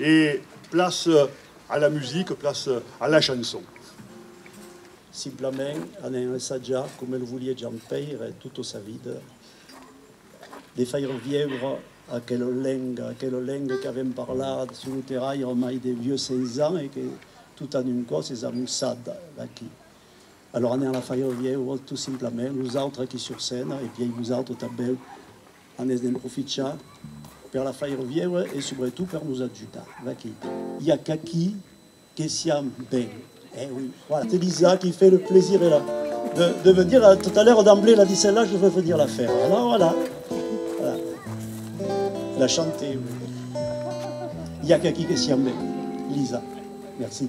E place a la musique, place a la chanson. Simplament anèn ensatjar coma lo volie Jean Pèire tota sa vida, de faire vièure aquela lenga, aquela lenga qu'avèm parlat sus lo terraire mai de 800 ans e que tot en un còs es amussada d'aquí. Alòra anèn la faire vièure tot simplament, nosautres aquí sur scèna e pièi vosautres tanben A mès d'en profichar per la faire viéure e subretot per nos ajudar. Vaquí. I a qu'aquí que siam ben. Eh oui. Voilà, c'est Lisa qui fait le plaisir et la de de venir à tout à l'heure d'emblée la dit celle-là je veux venir la faire. Alors voilà. Voilà. La chanter. I a qu'aquí que siam ben. Lisa. Merci.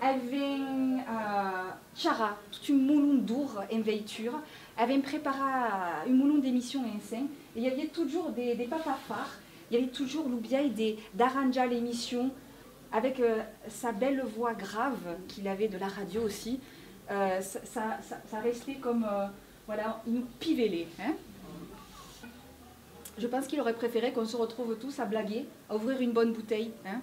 Avèm charrat tot un molon d'ora en veitura, avèm preparat un molon d'emissions ensenh e i aviá totjorn de pas pas far, i aviá totjorn lo biais de d'arranjar l'emission avèc sa bèla voix grave qu'il avait de la radio aussi, ça restait comme voilà un pivelé hein. Je pense qu'il aurait préféré qu'on se retrouve tous à blaguer, à ouvrir une bonne bouteille hein.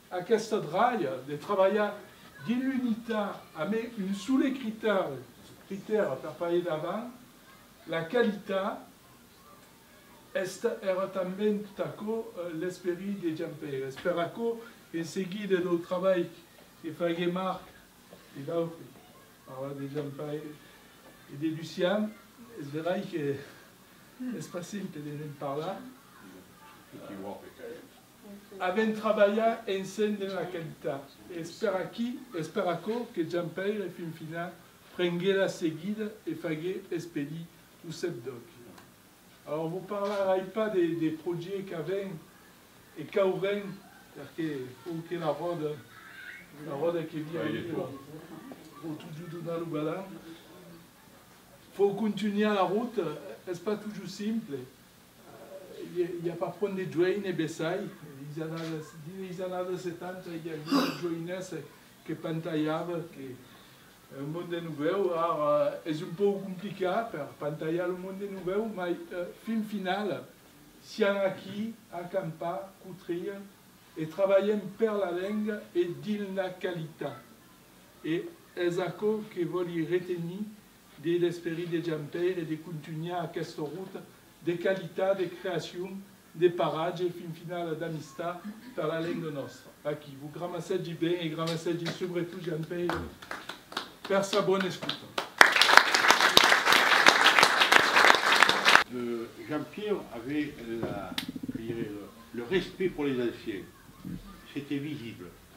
Aquesta dralha de trabalhar dins l'unitat amb un sole critèri, critèra per pas ir davant, la qualitat, es èra tanben tot aquò l'esperit de Jampèira. Es per aquò, en seguida dau trabalh que faguèt Marc e d'autres, parla de Jampèira e de Lucian, es verai que es pas simple de ne'n parlar, Avèm trabalhat ensenh dens aquel temps e es per aquí, es per aquò que Jean-Pèire Finfinà prengué la seguida e fagué expedir lo cep d'Òcli. Alòr vos parlarai pas des projets qu'avèm e qu'aurem perque fou que la ròda, la ròda que vira e vira, vos totjor donar lo balan. Fou contunhar la rota, es pas totjor simple, I a pas pont de joine bessai is annadas, dins is annadas setanta i aviá una joinessa que pantalhava que lo monde novèu, ara es un pauc complicat per pantalhar lo monde novèu, mai fin finala sián aquí a campar, cotria e trabalhem per la lenga e dins la qualitat e es aquò que vòli retenir Dins l'esperit de Jean Pèire de contunhar aquesta ruta de qualitat, de creacion, de paratge e fin finala d'amistat per la lenga nòstra. Aquí, vos gramassègi ben e gramassègi subretot Jean Pèire per sa bona escuta. Jean Pèire avait la, que dirai-je, le respect pour les anciens, c'étoit visible.